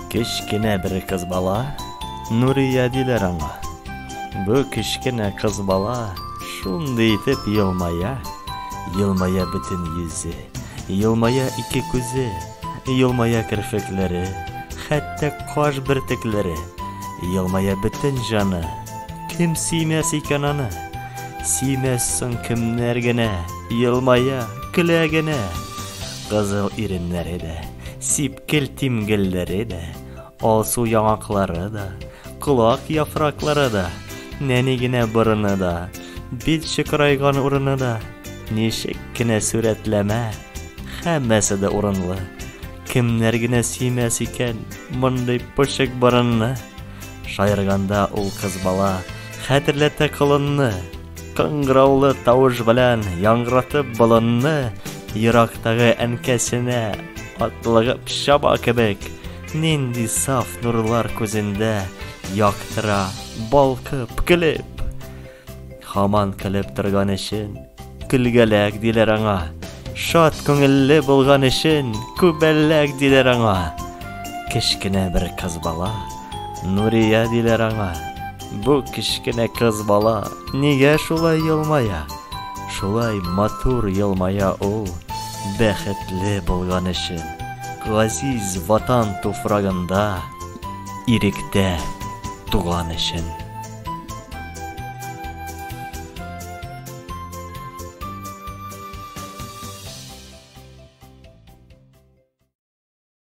Кечкенә бер кыз бала Нурия диләр аңа. Бу кечкенә кыз бала шундый итеп елмая, елмая бөтен йөзе, елмая ике күзе, елмая керфекләре, хәтта каш бөртекләре, елмая бөтен җаны. Кем сөймәс икән аны? Сөймәс соң кемнәр генә? Елмая, көлә генә. Кызыл иреннәре дә, сипкел тимгелләре дә, алсу яңаклары да, колак яфраклары да, нәни генә борыны да, бит чыкырайган урыны да, ничек кенә сурәтләмә, һәммәсе дә урынлы. Кемнәр генә сөймәс икән мондый пошык борынны. Шаярганда ул кыз бала хәтерләтә колынны. Кыңгыраулы тавыш белән яңгыратып болынны ерактагы әнкәсенә атлыгып чаба кебек, нинди саф нурлар күзендә яктыра, балкып, көлеп. Хаман көлеп торган өчен көлгәләк диләр аңа. Шат күңелле булган өчен күбәлләк диләр аңа. Кечкенә бер кыз бала Нурия диләр аңа. Бу кечкенә кыз бала нигә шулай елмая? Шулай матур елмая ул, бәхетле булган өчен. Газиз ватан туфрагында иректә туган өчен.